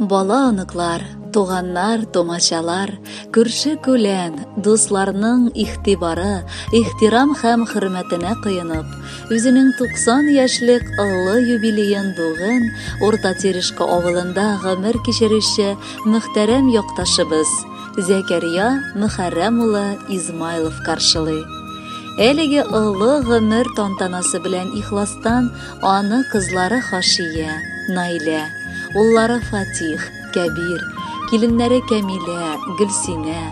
Бала-оныклар, туганнар, томачалар, күрше-күлән, дусларның ихтибары, ихтирам һәм хөрмәтенә кыенып, үзенең 90 яшьлек олы юбилеен бүген Урта Терешка авылында гомер кичерүче мөхтәрәм якташыбыз Зәкәрия Мөхәррәм улы Измайлов каршылый. Әлеге олы гомер тантанасы белән ихластан Аны кызлары Хашия, Наилә, уллары Фатих, Кәбир, киленнәре Кәмилә, Гөлсинә,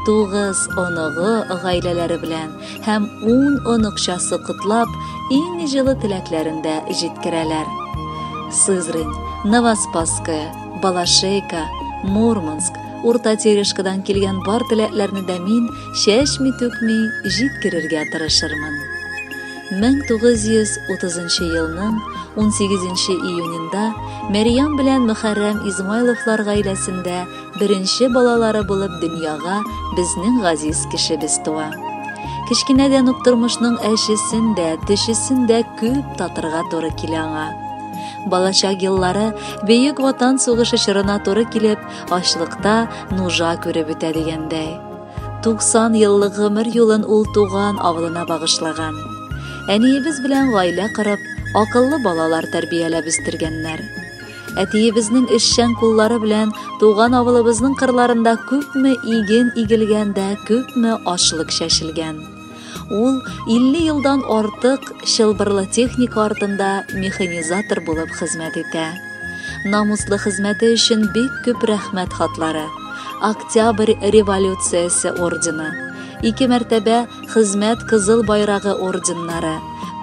тугыз оныгы гаиләләре белән һәм ун оныкчасы котлап, иң җылы теләкләрен дә җиткерәләр. Сызрань, Новоспасская, Балашейка, Мурманск, Урта Терешкадан килгән бар теләкләрне дә мин чәчми-түкми җиткерергә тырышырмын. 1930 елның 18 июнендә Мәрьям белән Мөхәррәм Измайловлар гаиләсендә беренче балалары булып дөньяга безнең газиз кешебез туа. Кечкенәдән үк тормышның әчесен дә, төчесен дә күп татырга туры килә аңа. Балачак еллары Бөек Ватан сугышы чорына туры килеп, ачлыкта нужа күреп үтә дигәндәй. 90 еллык гомер юлын ул туган авылына багышлаган. Әниебез белән гаилә корып, акыллы балалар тәрбияләп үстергәннәр. Әтиебезнең эшчән куллары белән туган авылыбызның кырларында күпме иген игелгән дә, күпме ашлык чәчелгән. Ул 50 елдан артык чылбырлы техника артында механизатор булып хезмәт итә. Намуслы хезмәте өчен бик күп рәхмәт хатлары, Октябрь революциясе ордены, ике мәртәбә Хезмәт кызыл байрагы орденнары,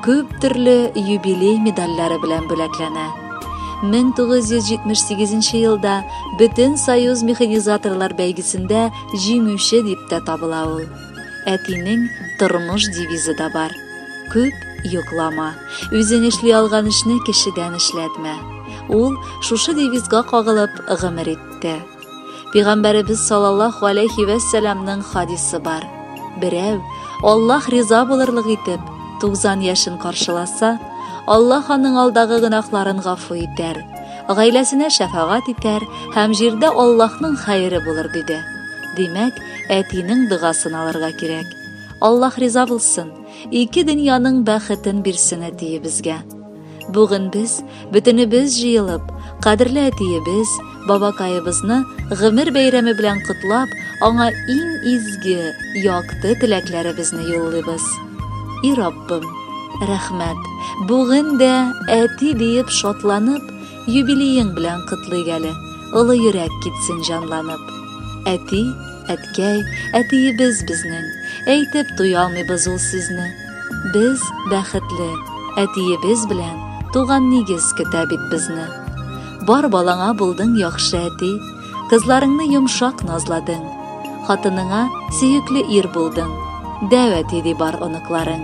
күп төрле юбилей медальләре белән бүләкләнә. 1978 елда Бөтен союз механизаторлар бәйгесендә җиңүче дип тә табыла ул. Әтинең тормыш девизы да бар. Күп йоклама. Үзең эшли алган эшне кешедән эшләтмә. Ул шушы девизга кагылып гомер итте. Пигамбәребез саллаллаһу алейхи вә сәламның хадисы бар. Берәү Аллаһ риза булырлык итеп 90 яшен каршыласа, Аллаһ аның алдагы гөнаһларын гафу итәр, гаиләсенә шәфагат итәр һәм җирдә Аллаһның хәере булыр диде. Димәк, әтинең дыгасын алырга кирәк. Аллаһ риза булсын, ике дөньяның бәхетен бирсен әтиебезгә. Бүген без бөтенебез җыелып, кадерле әтиебез, бабакаебызны гомер бәйрәме белән котлап, аңа иң изге, якты теләкләребезне юллыйбыз. И Раббым, рәхмәт. Бүген дә әти диеп шатланып, Юбилеең белән котлыйк әле, олы йөрәк китсен җанланып. Әти, әткәй, әтиебез безнең, әйтеп туя алмыйбыз ул сезне. Без, бәхетле, әтиебез белән туган нигез көтә бит безне. Бар балаңа булдың яхшы әти, кызларыңны йомшак назладың, хатыныңа сөекле ир булдың, дәү әти ди бар оныкларың.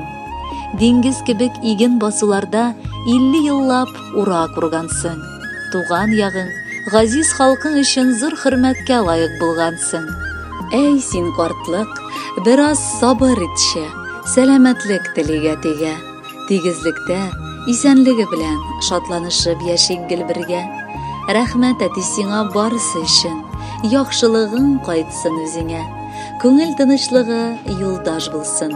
Диңгез кебек иген басуларда 50 еллап Ура кургансың. Туган ягың, газиз халкың өчен зур хөрмәткә лаек булгансың. Әй син картлык, бераз сабыр итче, сәламәтлек телик әтигә. Тигезлектә, исәнлеге белән, шатланышып яшик гел бергә. Рәхмәт әти сиңа барысы өчен, яхшылыгың кайтсын үзеңә. Күңел тынычлыгы юлдаш булсын.